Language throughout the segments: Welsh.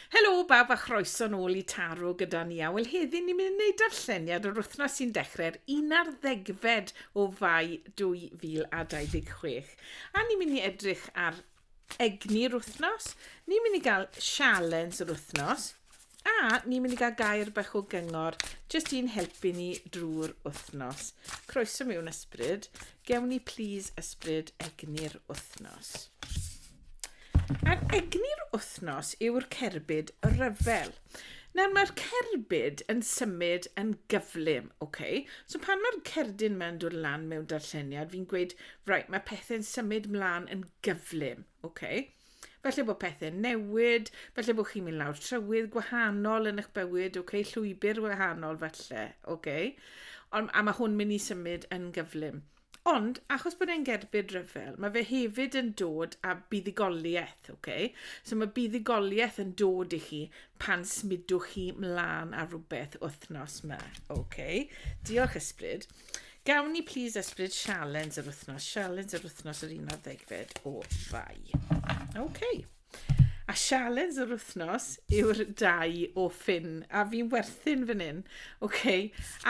Helo bawb a chroeso nôl i Taro gyda ni a wel heddi ni'n mynd i wneud darlleniad yr wythnos sy'n dechrau'r un ar ddegfed o fai 2026 a ni'n mynd i edrych ar egni'r wythnos, ni'n mynd i gael sialens yr wythnos a ni'n mynd i gael gair bach o gyngor jyst i'n helpu ni drwy'r wythnos. Croeso mewn ysbryd, gewn ni please ysbryd egni'r wythnos. Ar egni'r wythnos yw'r cerbyd ryfel. Nawr mae'r cerbyd yn symud yn gyflym, ok? So pan mae'r cerdyn mewn dod lan mewn darlleniad, fi'n gweud, right, mae pethau'n symud mlaen yn gyflym, ok? Felly bod pethau'n newid, felly bod chi'n mynd lawr trywydd gwahanol yn eich bywyd, ok? Llwybr wahanol falle, ok? Ond, a mae hwn mynd i symud yn gyflym. Ond, achos bod e'n gerbyd rhyfel, mae fe hefyd yn dod â buddugoliaeth, oce? Okay? So mae buddugoliaeth yn dod i chi pan smudwch chi mlaen ar rhywbeth wythnos yma, oce? Okay? Diolch ysbryd. Gawn ni please ysbryd sialens yr wythnos, sialens yr wythnos yr un ar ddegfed o fai. Oce. Okay. A sialens yr wythnos yw'r dau o ffin. A fi'n werthin fan hyn. OK,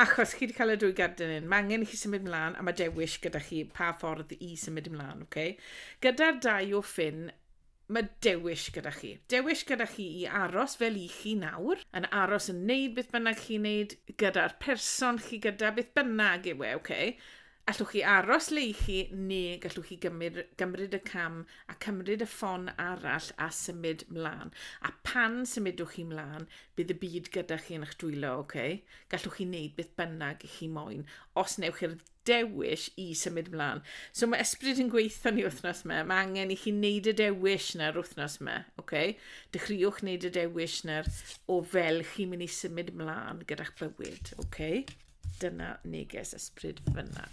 achos chi wedi cael y dwy gardyn hyn, mae angen i chi symud mlaen a mae dewis gyda chi pa ffordd i symud ymlaen. OK? Gyda'r dau o ffin, mae dewis gyda chi. Dewis gyda chi i aros fel i chi nawr, yn aros yn neud beth bynnag chi'n neud gyda'r person chi gyda, beth bynnag yw e, OK? Allwch chi aros le i chi neu gallwch chi gymryd, gymryd y cam a cymryd y ffon arall a symud mlaen. A pan symudwch chi mlaen, bydd y byd gyda chi yn eich dwylo, oce? Okay? Gallwch chi wneud beth bynnag i chi moyn, os newch chi'r dewis i symud mlaen. So mae ysbryd yn gweithio ni wythnos yma, mae angen i chi wneud y dewis na'r wythnos yma, oce? Okay? Dechreuwch wneud y dewis na'r o fel chi'n mynd i symud mlaen gyda'ch bywyd, oce? Okay? Dyna neges ysbryd fyna.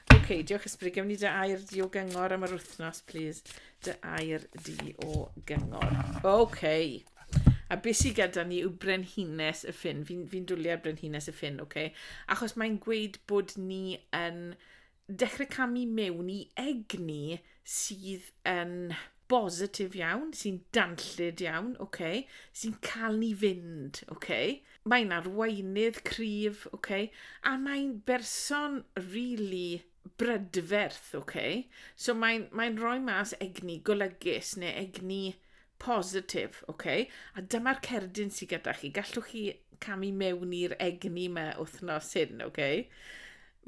Oce, okay, diolch ysbryd. Gewn ni dy air di o gyngor am yr wythnos, please. Dy air di o gyngor. Oce. Okay. A beth sydd gyda ni yw brenhines y ffin. Fi'n fi, dwliau brenhines y ffin, oce? Okay? Achos mae'n gweud bod ni yn dechrau camu mewn i egni sydd yn bositif iawn, sy'n danllyd iawn, okay, sy'n cael ni fynd. Okay. Mae'n arweinydd cryf, okay, a mae'n berson rili really brydferth. Okay. So mae'n mae rhoi mas egni golygus neu egni positif. Okay. A dyma'r cerdyn sydd gyda chi. Gallwch chi camu mewn i'r egni yma wythnos hyn. Okay.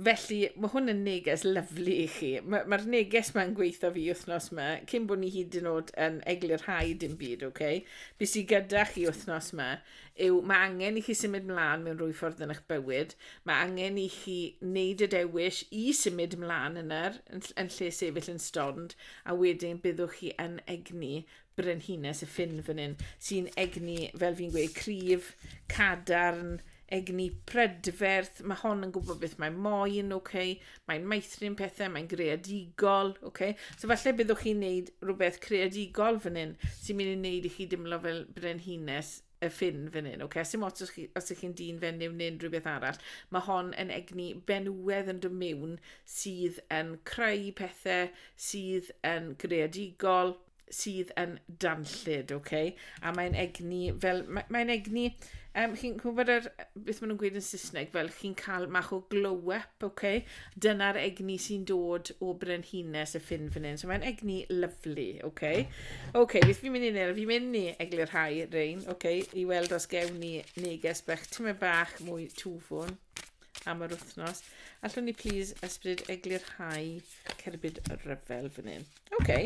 Felly, mae hwn yn neges lyflu i chi. Mae'r ma neges mae'n gweithio fi wythnos yma, cyn bod ni hyd yn oed yn eglurhau dim byd, oce? Okay? Be sy'n gyda chi wythnos yma yw mae angen i chi symud mlaen mewn rwy ffordd yn eich bywyd. Mae angen i chi wneud y dewis i symud mlaen yna yn, yn lle sefyll yn stond, a wedyn byddwch chi yn egni brenhines y ffin fan hyn, sy'n egni, fel fi'n gweud, cryf, cadarn, egni prydferth, mae hon yn gwybod beth mae moyn, okay? mae'n maethrin pethau, mae'n greadigol. Okay? So falle byddwch chi'n neud rhywbeth creadigol fan hyn sy'n mynd i wneud i chi dimlo fel brenhines y ffin fan hyn. Okay? Sy'n os, chi, os ych chi'n dyn fenyw neu unrhyw beth arall, mae hon yn egni benywedd yn dymewn sydd yn creu pethau, sydd yn greadigol, sydd yn danllyd, ok? A mae'n egni fel... Mae, mae'n egni... Um, chi'n gwybod yr, beth maen nhw'n gweud yn Saesneg, fel chi'n cael mach o glow-up, ok? Dyna'r egni sy'n dod o brenhines y ffin fan hyn. So mae'n egni lyflu, ok? Ok, beth fi'n mynd i wneud? Fi'n mynd i eglurhau rein, ok? I weld os gewn ni neges bach, tyma bach mwy twfwn am yr wythnos. Allwn ni please ysbryd eglurhau cerbyd ryfel fan hyn. Oce.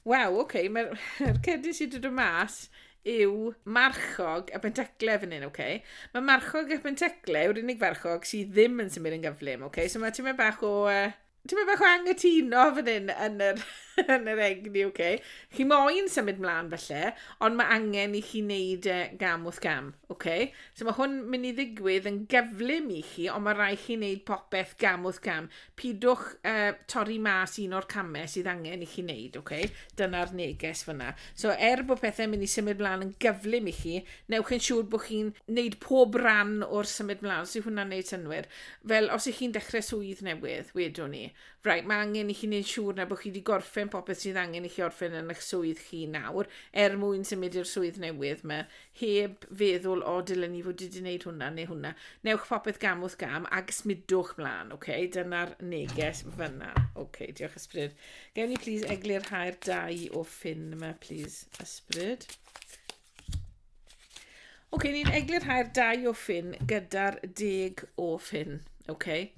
Waw, oce, mae'r cerdyn sydd wedi dod mas yw marchog a bentacle fan hyn, oce? Mae marchog a bentacle yw'r unig farchog sydd ddim yn symud yn gyflym, oce? So mae ti'n mynd bach o... Uh, ti'n mynd bach o angytuno fan hyn yn yr, yn yr egni, oce? Chi moyn symud mlaen falle, ond mae angen i chi wneud e gam wrth gam, oce? So mae hwn mynd i ddigwydd yn gyflym i chi, ond mae rai chi wneud popeth gam wrth gam. pidwch uh, torri mas un o'r camau sydd angen i chi wneud, oce? Okay? Dyna'r neges fyna. So, er bod pethau'n mynd i symud mlaen yn gyflym i chi, newch yn siŵr bod chi'n wneud pob ran o'r symud mlaen, os yw hwnna'n gwneud synwyr. Fel, os ych chi'n dechrau swydd newydd, wedwn ni, right, mae angen i chi wneud siŵr na bod chi wedi gorffen popeth sydd angen i chi orffen yn eich swydd chi nawr, er mwyn symud i'r swydd newydd mae heb feddwl, o, dylen ni fod wedi gwneud hwnna neu hwnna. Newch popeth gam wrth gam ac smidwch mlaen, oce? Okay? Dyna'r neges fyna. Oce, okay, diolch ysbryd. Gewn ni plis eglurhau'r dau o ffyn yma, plis, ysbryd. Oce, okay, ni'n eglurhau'r dau o ffyn gyda'r deg o ffyn. Okay.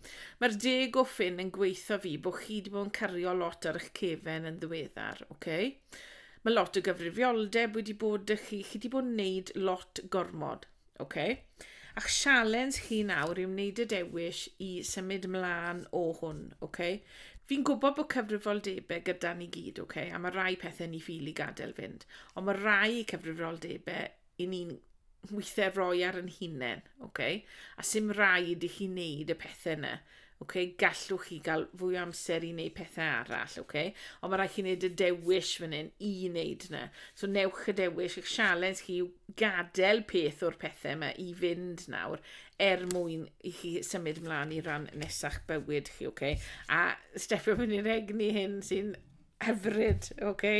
Mae'r deg o ffyn yn gweithio fi bod chi wedi bod yn cario lot ar eich cefen yn ddiweddar. Okay. Mae lot o gyfrifioldeb wedi bod y chi, chi wedi bod yn wneud lot gormod, oce? Okay? A'ch sialens chi nawr yw wneud y dewis i symud mlaen o hwn, oce? Okay? Fi'n gwybod bod cyfrifoldebau gyda ni gyd, oce? Okay? A mae rai pethau ni ffili gadael fynd, ond mae rai cyfrifoldebau i ni'n weithiau roi ar yn hunain, okay? a sy'n rhaid i chi wneud y pethau yna. Okay? Gallwch chi gael fwy o amser i wneud pethau arall, okay? ond mae rhaid chi wneud y dewis fan hyn i wneud yna. So newch y dewis, eich sialens chi yw gadael peth o'r pethau yma i fynd nawr er mwyn i chi symud ymlaen i ran nesach bywyd chi, okay? a steffio fyny rhegni hyn sy'n Hyfryd, oce.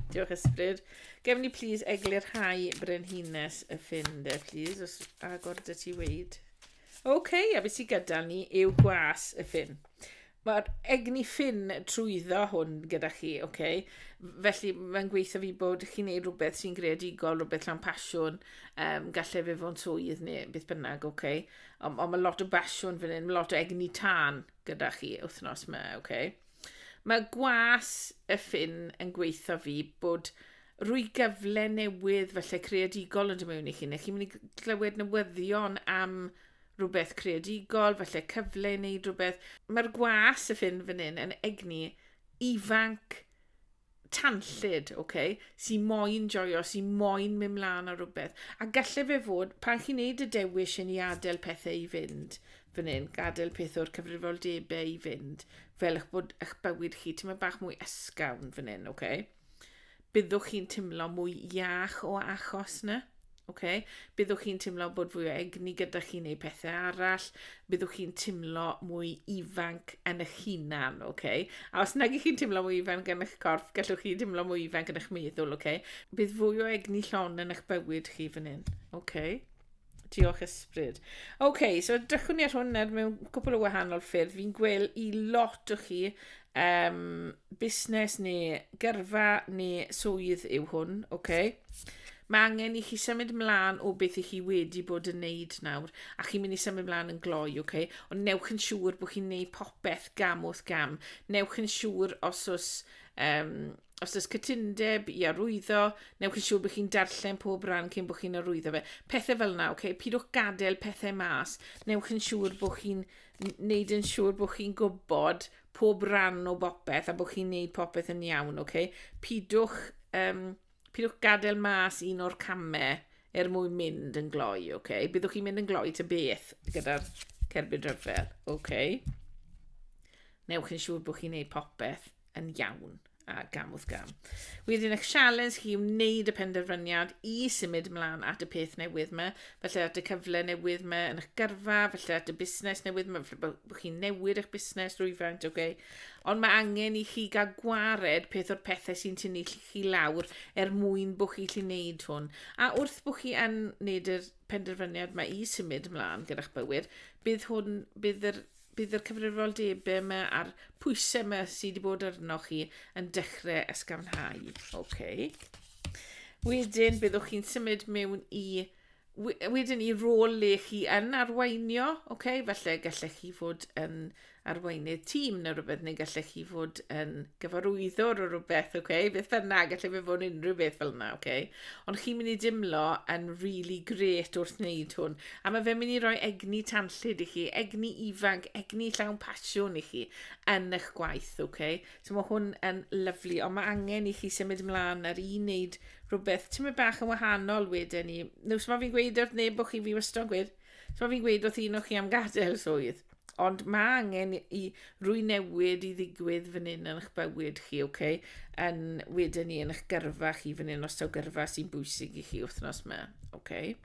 Diolch ysbryd. Gefn ni plîs eglurhau brenhines y ffin de, plîs, os agor dy ti weid. Oce, a beth sydd gyda ni yw gwas y ffin. Mae'r egni ffin trwyddo hwn gyda chi, oce. Felly mae'n gweithio fi bod chi'n neud rhywbeth sy'n greadigol, rhywbeth llawn pasiwn, um, gallai fe fo'n swydd neu beth bynnag, oce. Ond on mae lot o basiwn fan hyn, mae lot o egni tân gyda chi wythnos yma, oce. Okay? Mae gwas y ffin yn gweithio fi bod rwy gyfle newydd falle creadigol yn dod mewn i chi, neu chi'n mynd i glywed newyddion am rhywbeth creadigol, falle cyfle i wneud rhywbeth. Mae'r gwas y ffin fan hyn yn egni ifanc tanllyd, ok, sy'n moyn joio, sy'n moyn mynd mlaen ar rhywbeth. A gallai fe fod, pan chi'n neud y dewis yn i adael pethau i fynd, fan hyn, gadael peth o'r cyfrifoldebau i fynd, fel eich bod eich bywyd chi, ti'n bach mwy ysgafn fan hyn, ok? Byddwch chi'n timlo mwy iach o achos na? Okay? Byddwch chi'n teimlo bod fwy o egni gyda chi neu pethau arall, byddwch chi'n teimlo mwy ifanc yn eich hunan, okay? a os nag ych chi'n teimlo mwy ifanc yn eich corff, gallwch chi teimlo mwy ifanc yn eich meddwl, okay? bydd fwy o egni llon yn eich bywyd chi fan hyn. Okay? Diolch ysbryd. Oce, okay, so dychwn ni ar hwn nawr mewn cwpl o wahanol ffyrdd. Fi'n gweld i lot o chi um, busnes neu gyrfa neu swydd yw hwn, oce? Okay? Mae angen i chi symud mlaen o beth i chi wedi bod yn neud nawr, a chi'n mynd i symud mlaen yn gloi, ok? Ond newch yn siŵr bod chi'n neud popeth gam wrth gam. Newch yn siŵr os oes, um, os oes cytundeb i arwyddo, newch yn siŵr bod chi'n darllen pob rhan cyn bod chi'n arwyddo fe. Pethau fel yna, ok? Pidwch gadael pethau mas. Newch yn siŵr bod chi'n neud yn siŵr bod chi'n gwybod pob rhan o bopeth a bod chi'n neud popeth yn iawn, ok? Pidwch um, Pidwch gadael mas un o'r camau er mwyn mynd yn gloi, oce? Okay? Byddwch chi'n mynd yn gloi ta beth gyda'r cerbyd rhyfel, oce? Okay? Newch yn siŵr bod chi'n gwneud popeth yn iawn a gam wrth gam. Wedyn eich sialens chi wneud y penderfyniad i symud ymlaen at y peth newydd yma, felly at y cyfle newydd yma yn eich gyrfa, felly at y busnes newydd yma, felly bod chi'n newid eich busnes rwyfaint, oce? Okay? Ond mae angen i chi gael gwared peth o'r pethau sy'n tynnu chi chi lawr er mwyn bod chi lli wneud hwn. A wrth bod chi yn wneud yr penderfyniad mae i symud ymlaen gyda'ch bywyd, bydd hwn, bydd yr bydd yr cyfrifoldebau yma a'r pwysau yma sydd wedi bod arno chi yn dechrau ysgafnhau. Okay. Wedyn, byddwch chi'n symud mewn i wedyn i rôl le chi yn arweinio, okay? felly gallech chi fod yn arweinydd tîm neu rhywbeth, neu gallech chi fod yn gyfarwyddwr o rhywbeth, okay? beth bynnag, gallech fe fod unrhyw beth fel yna. Okay? Ond chi'n mynd i dimlo yn really great wrth wneud hwn. A mae fe'n mynd i roi egni tanllyd i chi, egni ifanc, egni llawn pasiwn i chi yn eich gwaith. Okay? So mae hwn yn lyflu, ond mae angen i chi symud ymlaen ar un wneud rhywbeth ti'n mynd bach yn wahanol wedyn ni. Neu so mae fi'n gweud wrth neb bod chi fi wastad gweud, so mae fi'n gweud wrth un o chi am gadael swydd. Ond mae angen i rwy newid i ddigwydd fan hyn yn eich bywyd chi, oce? Okay? Yn wedyn ni yn eich gyrfa chi fan hyn, os taw gyrfa sy'n bwysig i chi wythnos yma, oce? Okay?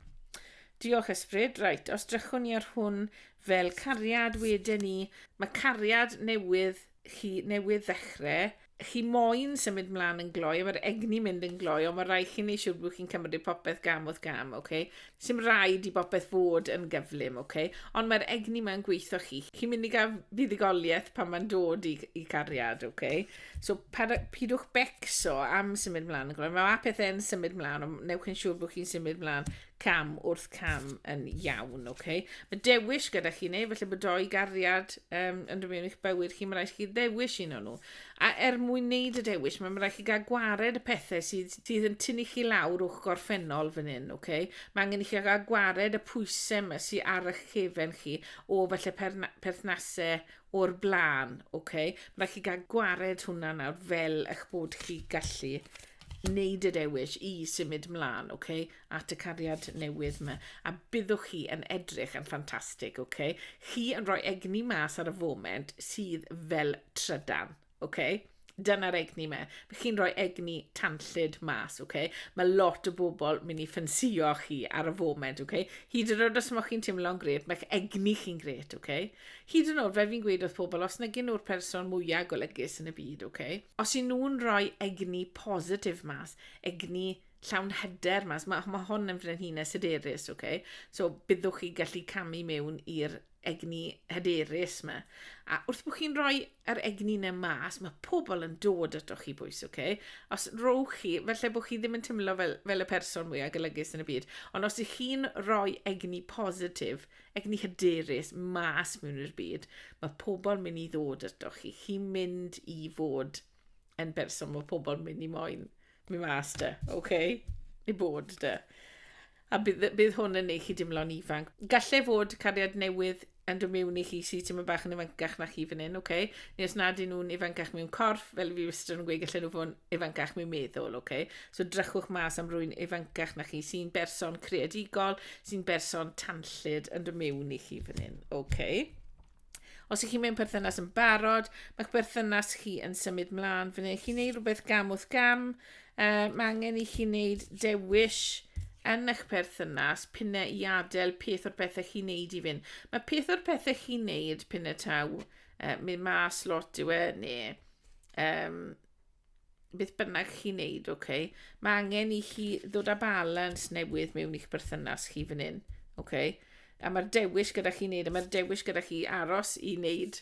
Diolch ysbryd, reit, os drychwn ni ar hwn fel cariad wedyn ni, mae cariad newydd chi newydd ddechre, chi moyn symud mlaen yn gloi, a mae'r egni mynd yn gloi, ond mae rhaid chi wneud siŵr bod chi'n cymryd popeth gam wrth gam, oce? Okay? Sym rhaid i bopeth fod yn gyflym, oce? Okay? Ond mae'r egni mae'n gweithio chi. Chi'n mynd i gael fuddugoliaeth pan mae'n dod i, i cariad, oce? Okay? So, pidwch becso am symud mlaen yn gloi. Mae pethau'n symud mlaen, ond newch yn siŵr bod chi'n symud mlaen cam wrth cam yn iawn, oce? Okay? Mae dewis gyda chi neu, felly bod doi gariad um, yn rhywun i'ch bywyd chi, mae rhaid chi ddewis un o'n nhw. A er mwyn wneud y dewis, mae rhaid chi gael gwared y pethau sydd, sydd yn tynnu chi lawr o'ch gorffennol fan hyn, oce? Okay? Mae angen i chi gael gwared y pwysau yma sydd ar eich cefen chi o felly perthnasau o'r blaen, oce? Okay? Mae rhaid chi gael gwared hwnna nawr fel eich bod chi gallu wneud y dewis i symud mlaen, oce? Okay? at y cariad newydd ma, a byddwch chi yn edrych yn ffantastig, ok? Chi yn rhoi egni mas ar y foment sydd fel trydan, ok? Dyna'r egni me. Mae chi'n rhoi egni tanllyd mas, ok? Mae lot o bobl mynd i ffensio chi ar y foment, ok? Hyd yn oed os mae chi'n teimlo'n gret, mae'ch egni chi'n gret, ok? Hyd yn oed, fe fi'n gweud wrth pobl, os na gyn nhw'r person mwyaf golygus yn y byd, ok? Os i nhw'n rhoi egni positif mas, egni llawn hyder mas. Mae, mae hon yn frenhines hyderus, oce? Okay? So, byddwch chi gallu camu mewn i'r egni hyderus yma. A wrth bod chi'n rhoi yr egni yna mas, mae pobl yn dod ato chi bwys, oce? Okay? Os rowch chi, felly bod chi ddim yn tymlo fel, fel y person mwyaf golygus yn y byd, ond os ych chi'n rhoi egni positif, egni hyderus mas mewn i'r byd, mae pobl mynd i ddod ato chi. Chi'n mynd i fod yn berson mae pobl mynd i moyn. Mi mas de, ok? I bod de. A bydd, bydd hwn yn ei chi dimlo'n ifanc. Gallai fod cariad newydd yn dod mewn i chi sy'n ti'n mynd bach yn ifancach na chi fan hyn, ok? Neu os nad yn nhw'n ifancach mewn corff, fel fi wastad yn gweud, gallai nhw fod yn ifancach mewn meddwl, ok? So drychwch mas am rwy'n ifancach na chi sy'n berson creadigol, sy'n berson tanllyd yn dod mewn i chi fan hyn, ok? Os ych chi mewn perthynas yn barod, mae'ch berthynas chi yn symud mlaen. Fe wneud chi wneud rhywbeth gam wrth gam. Uh, mae angen i chi wneud dewis yn eich perthynas pinne i adael peth o'r pethau chi'n neud i fynd. Mae peth o'r pethau chi'n neud pinne taw, uh, mynd mas lot yw e, neu um, beth bynnag chi'n neud, oce, okay, mae angen i chi ddod â balans newydd mewn i'ch berthynas chi fan hyn, oce. Okay? A mae'r dewis gyda chi wneud, a mae'r dewis gyda chi aros i wneud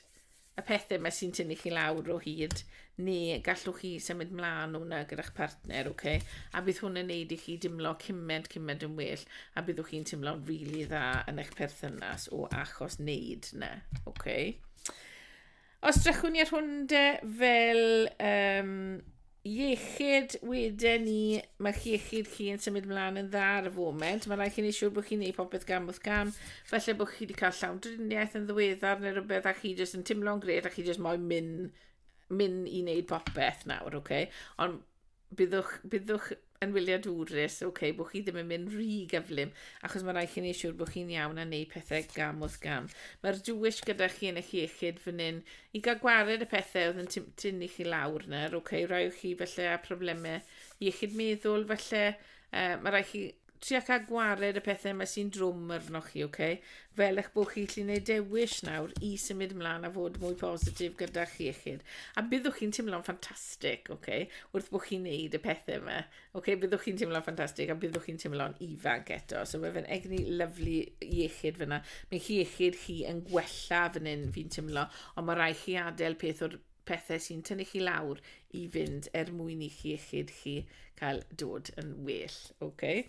y pethau yma sy'n tynnu chi lawr o hyd, neu gallwch chi symud mlaen o'na gyda'ch partner, oce. Okay? A bydd hwn yn neud i chi dimlo cymaint, cymaint yn well, a byddwch chi'n teimlo'n rili really dda yn eich perthynas o achos wneud na, oce. Okay? Os drychwn i ar hwn de, fel um, iechyd, wedyn ni, mae'ch iechyd chi yn symud mlaen yn dda ar y foment. Mae rhaid chi wneud siŵr bod chi'n gwneud popeth gam wrth gam. Felly bod chi wedi cael llawn driniaeth yn ddiweddar neu rhywbeth a chi jyst yn timlo'n gred a chi jyst moyn mynd, mynd i wneud popeth nawr, oce? Okay? Ond byddwch, byddwch yn wyliadwrus, oce, okay, bod chi ddim yn mynd rhy gyflym, achos mae rhaid chi ni siŵr bod chi'n iawn a wneud pethau gam wrth gam. Mae'r dwyll gyda chi yn eich iechyd fan hyn i gael gwared y pethau oedd yn tynnu chi lawr yna, oce, okay, rhaid chi felly a problemau iechyd meddwl, felly uh, mae rhaid chi trio cael gwared y pethau yma sy'n drwm arnoch chi, oce? Okay? Fel eich bod chi'n gallu gwneud dewis nawr i symud ymlaen a fod mwy positif gyda chi eich hun. A byddwch chi'n teimlo'n ffantastig, oce? Okay? Wrth bod chi'n neud y pethau yma. Oce, okay? byddwch chi'n teimlo'n ffantastig a byddwch chi'n teimlo'n ifanc eto. So mae fe'n egni lyflu iechyd fyna. Mae chi iechyd chi yn gwella fan hyn fi'n teimlo, ond mae rai chi adael peth o'r pethau sy'n tynnu chi lawr i fynd er mwyn i chi iechyd chi cael dod yn well. Okay.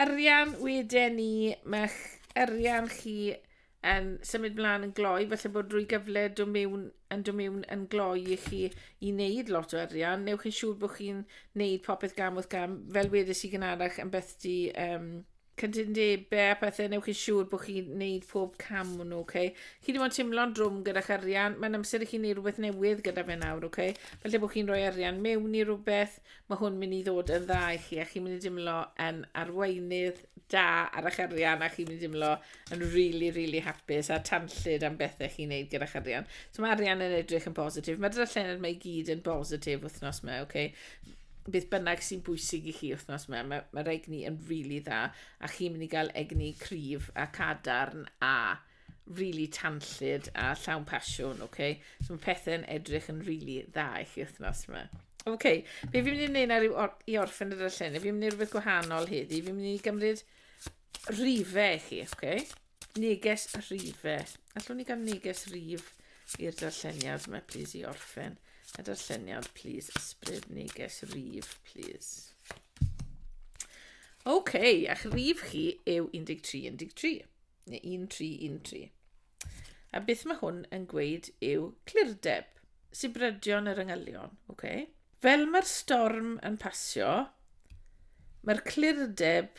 Arian wedyn ni, mae'ch arian chi yn symud mlaen yn gloi, felly bod rwy gyfle do mewn, yn do mewn yn gloi i chi i wneud lot o arian. Newch yn siŵr bod chi'n wneud popeth gam wrth gam, fel wedys i gynharach yn beth di um, cytundebau a pethau, newch chi siŵr bod chi'n gwneud pob cam nhw, oce? Okay? Chi ddim ond teimlo'n drwm gyda'ch arian, mae'n amser i chi wneud rhywbeth newydd gyda fe nawr, oce? Okay? Felly bod chi'n rhoi arian mewn i rhywbeth, mae hwn mynd i ddod yn dda i chi, a chi'n mynd i dimlo yn arweinydd da ar eich arian, a chi'n mynd i dimlo yn really, really hapus a tanllyd am bethau chi'n gwneud gyda'ch arian. So mae arian yn edrych yn positif. Mae dyna llened mae i gyd yn positif wythnos yma, oce? Okay? beth bynnag sy'n bwysig i chi wythnos yma, mae'r ma, ma egni yn rili really dda, a chi'n mynd i gael egni cryf a cadarn a rili really tanllyd a llawn pasiwn, oce? Okay? So mae pethau'n edrych yn rili really dda i chi wythnos yma. Oce, okay. be fi'n mynd i wneud ar or i orffen y darllen, fi'n mynd i rhywbeth gwahanol heddi, fi'n mynd i gymryd rhifau i chi, oce? Okay? Neges rhife. Allwn ni gael neges rif i'r darlleniad yma, plis, i orffen y darlleniad, plis, ysbryd neges rif, plis. Oce, okay, a'ch rif chi yw 13, 13, neu 13, 13. A beth mae hwn yn gweud yw clirdeb, sibrydion yr yngylion, oce? Okay? Fel mae'r storm yn pasio, mae'r clirdeb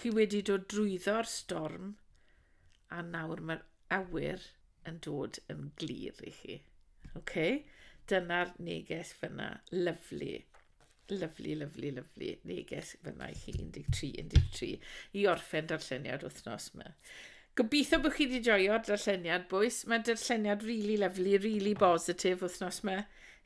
Chi wedi dod drwyddo'r storm a nawr mae'r awyr yn dod yn glir i chi. OK? Dyna'r neges fyna. Lyflu. Lyflu, lyflu, lyflu. Neges fyna i chi 13, 13. I orffen darlleniad wythnos yma. Gobeithio bod chi wedi joio'r darlleniad, bois. Mae darlleniad really lovely, really bositif wythnos yma.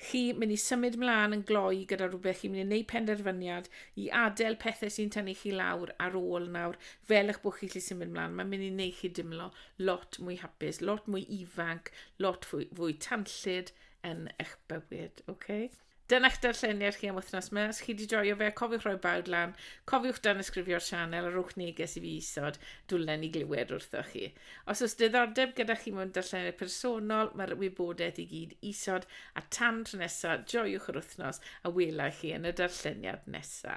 Chi mynd i symud mlaen yn gloi gyda rhywbeth, chi'n mynd i wneud penderfyniad i adael pethau sy'n tynnu chi lawr ar ôl nawr, fel eich bod chi'n gallu symud mlaen. Mae'n mynd i wneud chi dimlo lot mwy hapus, lot mwy ifanc, lot fwy, fwy tanllyd yn eich bywyd, oce? Okay? Dyna'ch darlleniad chi am wythnos ma, os chi wedi joio fe, cofiwch roi bawd lan, cofiwch dan ysgrifio'r sianel a rhowch neges i fi isod, dwlen i glywed wrthoch chi. Os oes diddordeb gyda chi mewn darlleniad personol, mae'r wybodaeth i gyd isod, a tan tro nesa, joiwch yr wythnos a welai chi yn y darlleniad nesa.